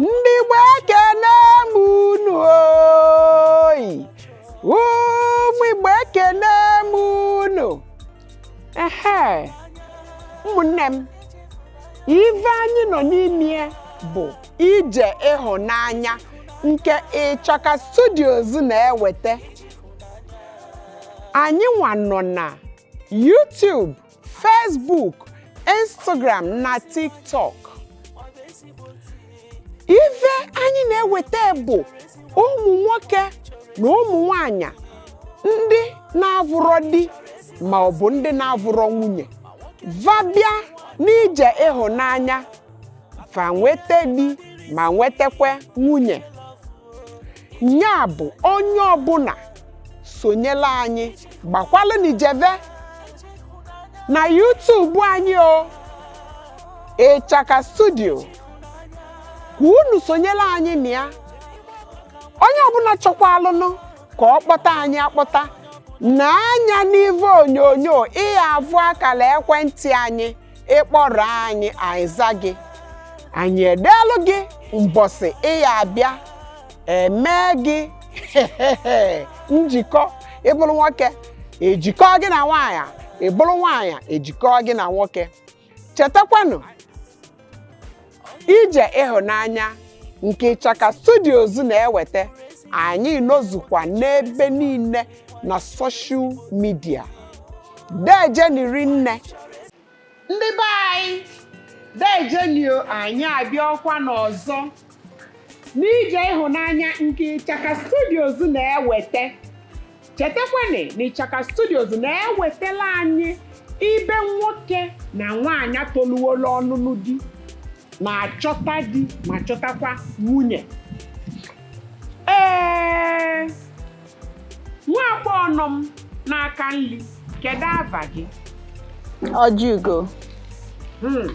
ndị Igbo ekene m unu oyi ụmụ Igbo ekene m unu ehe ụmụnne m ive anyị nọ n'ime bụ ije ịhụnanya nke Ịchaka Studios na-eweta anyị nwa nọ na YouTube Facebook Instagram na TikTok ive anyị na-eweta bụ ụmụ nwoke na ụmụ nwanyị ndị na-avụrọ di ma ọ bụ ndị na-avụrọ nwunye va bịa n'ije ịhụnanya va nweta di ma nwetakwa nwunye nya bụ onye ọbụna sonyela anyị gbakwalụnị jeve na YouTube anyị o Ịchaka Studio ka unu sonyela anyị na ya onye ọbụna chọkwaalụnụ ka ọ kpọta anyị akpọta nee anya n'ive onyonyo ị ya-avụ akala ekwentị anyị ị kpọrọ anyị anyị za gị anyị edeelụ gị mbọsị ị ya-abịa e mee gị njikọ ị bụlụ nwoke e jikọ gị na nwaanyị ị bụlụ nwaanyị e jikọ gị na nwoke chetakwanụ ije ịhụnanya nke Ịchaka Studios na-eweta anyị nọzukwa n'ebe niile na social media deejeni rinne ndị be anyị deejeni o anyị abịakwanụ ọzọ n'ije ịhụnanya nke Ịchaka Studios na-eweta chetakwanụ na Ịchaka Studios na-ewetala anyị ibe nwoke na nwaanyị toluwola ọnụnụ di ma chọta di ma chọtakwa nwunye ee nwa agbọghọ nọ m n'aka nri kedu ava gị Ojiugo Hmm.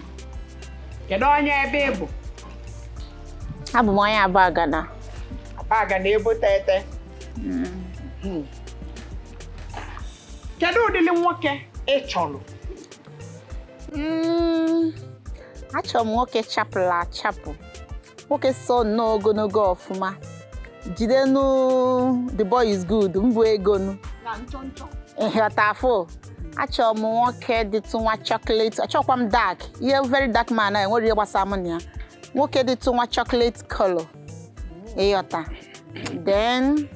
kedu onye ebe ị bụ abụ m onye Abagana Abagana ebo teghete hmm. kedu ụdịrị nwoke ị chọrọ hmm, achọrọ m nwoke chapụlụ achapụ nwoke so nnọọ ogonogo ọfụma jide nu the boy is good mbụ ego nu ị ghọtafụ achọrọ m nwoke dịtụ nwa chocolate achọkwa m dark ihe very dark man enwerọ ihe gbasara m na ya nwoke dịtụ nwa chocolate color ị ghọta then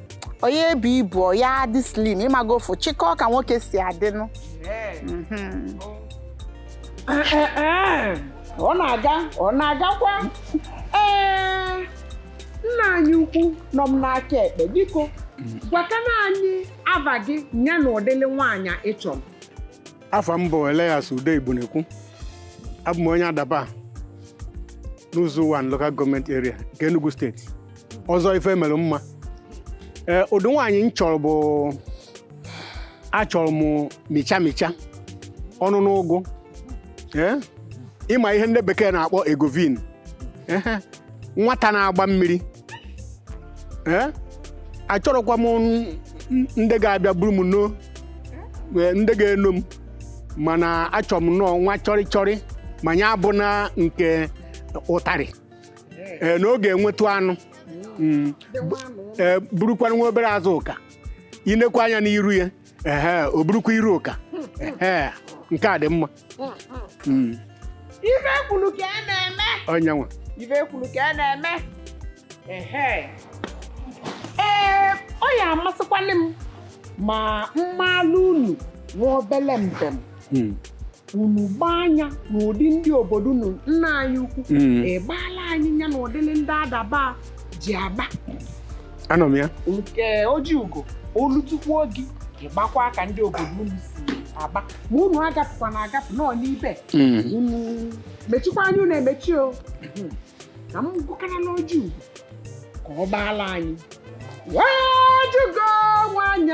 onye ebu ibu ya adị slim ị mago ofu chịkọ ka nwoke si adịnụ mhm. ọ na-aga ọ na-agakwa ee nna anyị ukwu nọ m n'aka ekpe biko gwakana anyị ava gị ya na ụdịlị nwaanyị ị chọrọ afa m bụ Elias Ude Igbunekwu abụ m onye Adaba n'Uzo-Uwani Local Government Area nke Enugu steeti ọzọ ife e mere mma ee ụdị nwaanyị m chọrọ bụ achọrọ m micha micha ọnụ n'ụgụ ee ị ma ihe ndị bekee na-akpọ egovin ehe nwata na-agba mmiri ee achọrọkwa m n- n- ndị ga-abịa buru m no ee, ndị ga-eno m mana achọrọ m nọọ nwa chọrị chọrị ma ya abụna nke ụtarị ee, na ọ ga-enwetụ anụ Mm. Ee, burukwanụ nwa obere azụ ụka i nekwa anya n'iru ya ehe o burukwa iru ụka ehe nke a dị mma Mm, ife kwuru ka a na-eme onye nwe ife kwuru ka a na-eme ehe ee ọ ya amasịkwanụ m ma m maalụ unu nwa obele mbem hmm. unu gbaa anya n'ụdị ndị obodo unu nna anyị ukwu hmm. ị gbaala anyị ya na ụdịrị ndị Adaba ji agba anọ m ya nke ọjị ugo o lutekwa gị ị gbakwaa ka ndị obodo unu si agba ma unu agapụkwa na agapụ nọ n'ibe hmm. mechikwa anya unu emechi o na m gụkara n'ọjị ugo ka ọ gbaala anyị ọjị ugo nwaanyị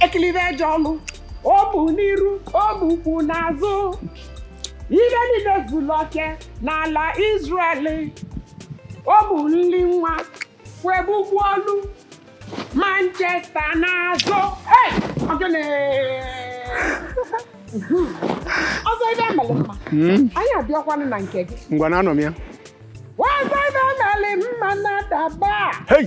ekilibe eje ọlụ o bu n'iru o bu ukwu n'azụ ihe niile zuru oke n'ala Israel o bu nri nwa wegbugbu ọnụ Manchester n'azụ Hey! Ogene! ọzọ ife emeli mma Hmm? anyị abịakwanụ na nke gị Ngwa na anọ m ya. ọzọ ife emeli mma n'Adaba Hey!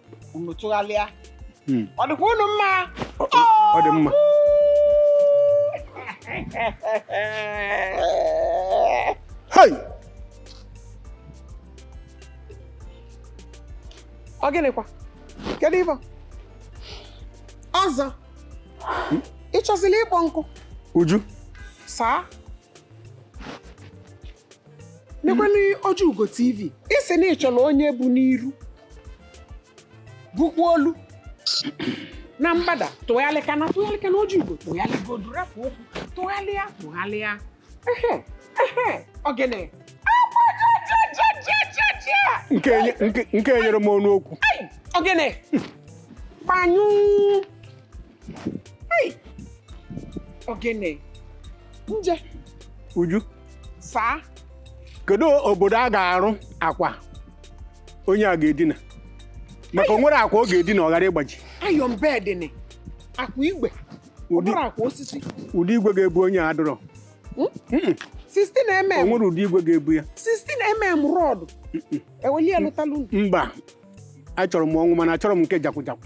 unu tụgharịa hmm. ọ dịkwa unu mma ọ dị mma hei ọ gịnịkwa kedu ife ọzọ hmm? ị chọzila ịkpọ nkụ uju saa nekwenu ọjị ugo tv ị sị na ị chọrọ onye bu n'iru bụkwa olu na mgbada tụgharịka na tụgharịka na oji igbo tụgharịgodu rapụ okwu tụgharịa tụgharịa ehe ehe ogene nke enye- nke- nke enyere m ọnụ okwu ogene gbanyụ ogene nje Uju sir kedu obodo a ga-arụ akwa onye a ga-edina maka o nwere akwa ọ ga-edina ọ ghara ịgbaji iron bed akwa igwe ọ ụdị bụrụ akwa osisi ụdị igwe ga-ebu onye a dọrọ 16 o mm nwere ụdị igwe ga-ebu ya 16 mm rod eweli elụtalụ mba achọrọ m ọnwụ mana achọrọ m nke jakwụjakwụ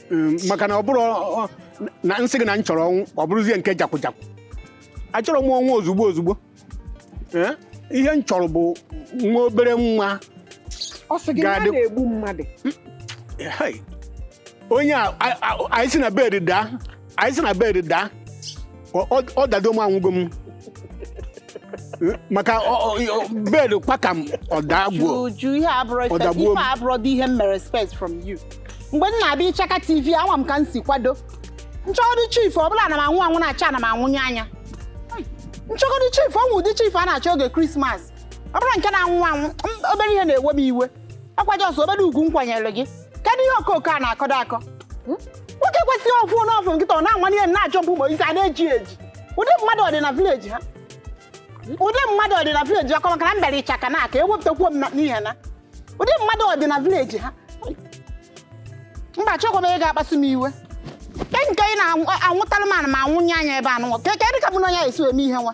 Mm, maka na ọ bụrụ ọ- na m sị gị na m chọrọ ọnwụ ọ bụrụzie nke jakwụjakwụ achọrọ m ọnwụ ozugbo ozugbo Eh, ihe m chọrọ bụ nwa obere nwayọ sị gị na a Ga-adị- na-egbu mmadụ Hey, onye a a- a- anyị si na bed daa anyị si na bed daa Ọ- ọ- ọ dado m anwụgo m Eh, maka ọ- ọ- ọ- bed kpaka m ọ dagbuo Uju, ihe a abụrọ Ọ expect. dagbuo Ife m. abụrọ dị ihe m mere expect from you. Mgbe m na-abịa Ichaka TV, ama m ka m si kwado. M chọgodi chief, ọ bụla na m anwụ anwụ na-acha na m anwụnye anya. M chọgodi chief, o nwe ụdị chief a na-achọ oge Krismas. Ọ bụrọ nke na-anwụ anwụ, m- obere ihe na-ewe m iwe. Ọ kwa just obere ugwu m kwanyere gị. kedu ihe okooko a na-akọdo akọ Hmm? nwoke kwesịrị ofu n'ofu nkịta ọ na-anwanye ihe na-achọ mgbe isi a na-eji eji ụdị mmadụ ọ dị na village ha ụdị mmadụ ọ dị na village ọkọ maka na m bịara Ichaka na aka ewepụtakwuo m na- n'ihe na ụdị mmadụ ọ dị na village ha mba achọkwa m ị ga-akpasu m iwe ke nke ị na-anwụtalụ m ana m anwụnye anya ebe anụnwa ke kedụ ka mụ na onye a esi eme ihe nwa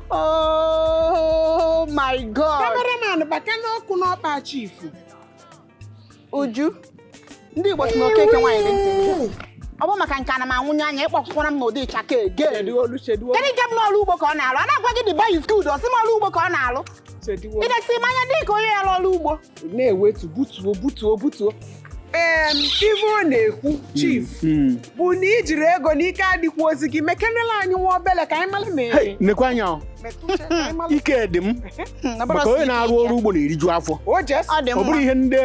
Oh my God! Cameraman bata n'ụkwụ n'ọkpa chief. Uju, ndị Igbo si na okeke nwaanyị dị ntị. ọ bụ maka nke ana m anwụnye anya ị kpọkwụkwara m n'ụdị Ichaka ege kedu nke m na ọrụ ugbo ka ọ na-alụ a na-agwa gị the boy is good ọ sị m ọrụ ugbo ka ọ na-alụ i lesie m anya dị ka onye ya-alụ ọrụ ugbo na-ewetu butuo butuo butuo em ife ọ na-ekwu chief Mm. bụ na i jiri ego na ike adịkwọzị gị mekenela anyị nwa obele ka anyị mara ma Hey, eri nekwa anya o. metụ uche ka anyị mara ike dị m maka onye na-arụ ọrụ ugbo na-eriju afọ o just ọ dị ọ bụrụ mma ihe ndị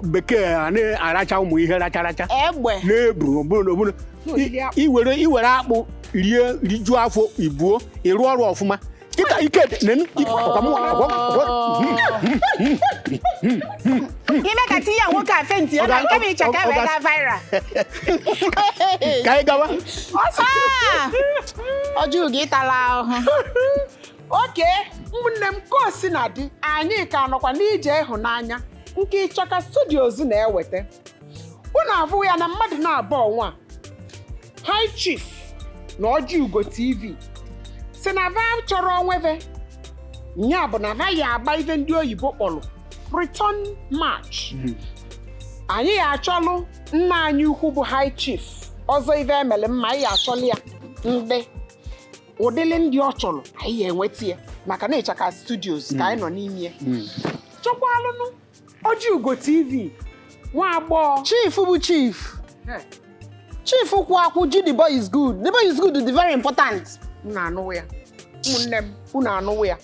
bekee a na-aracha ụmụ ihe racha racha egbe na-ebu ọ bụrụ na ọ bụrụ i- i were i were akpụ rie rijuo afọ i buo ịrụ ọrụ ọfụma kịta ike nenu ọkwa mụ ọkwa ọkwa ime ka tinye nwoke a fenti ya na nke bụ iche ka e wee gaa viral ka anyị gawa ọsọ ọ jụrụ gị ịtala ahụhụ okay ụmụnne m ka o sina dị anyị ka nọkwa n'ije ịhụnanya nke ịchaka studios na-ewete unu avụ ya na mmadụ naabọ ọnwa high chief na ọjị ugo tv sị na va chọrọ onwe ve nya bụ na va ya agba ive ndị oyibo kpọlụ return match anyị ya achọlụ nna anyị ukwu bụ high chief ọzọ ive emele mma anyị ya achọlụ ya ndị ụdịlị ndị ọ chọrọ anyị ya enweta ya maka na ịchaka studios ka anyị nọ n'ime ya chọkwalụnụ Ọjị Ugo TV nwa agbọghọ chief bụ chief chief kwụ akwụ ji the boy is good the boy is good dị very important unu anụwo ya ụmụnne m unu anụwo ya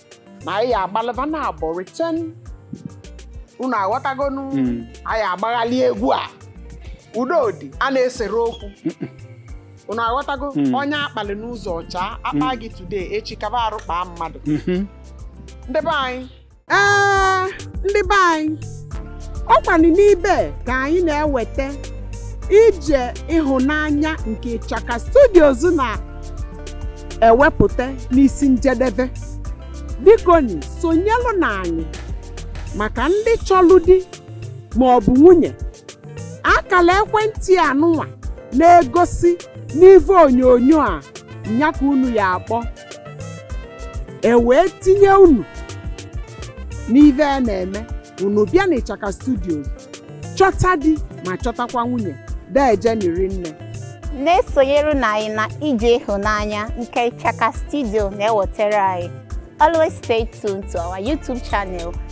na anyị agbalịba na abọ return unu aghọtagonu anyị agbaghalị egwu a udo dị a na-esere okwu unu aghọtago onye akpali n'ụzọ ọcha akpa gị today echi kaba arụ kpaa mmadụ ndị be anyị ee ndị be anyị ọkwanụ n'ibe ka anyị na-ewete ije ịhụnanya nke ịchaka studios na-ewepụte n'isi njedebe bikoni sonyelụ na anyị maka ndị chọlụ di ma ọ bụ nwunye akala ekwentị anụnwa na-egosi n'ive onyonyo a nya ka unu ya akpọ e wee tinye unu n'ive a na-eme unu bịa na ịchaka studios chọta di ma chọtakwa nwunye deejeni rinne na-esonyere na anyị n'ije ịhụnanya nke Ịchaka Studio na-ewetara anyị. Always stay tuned to our YouTube channel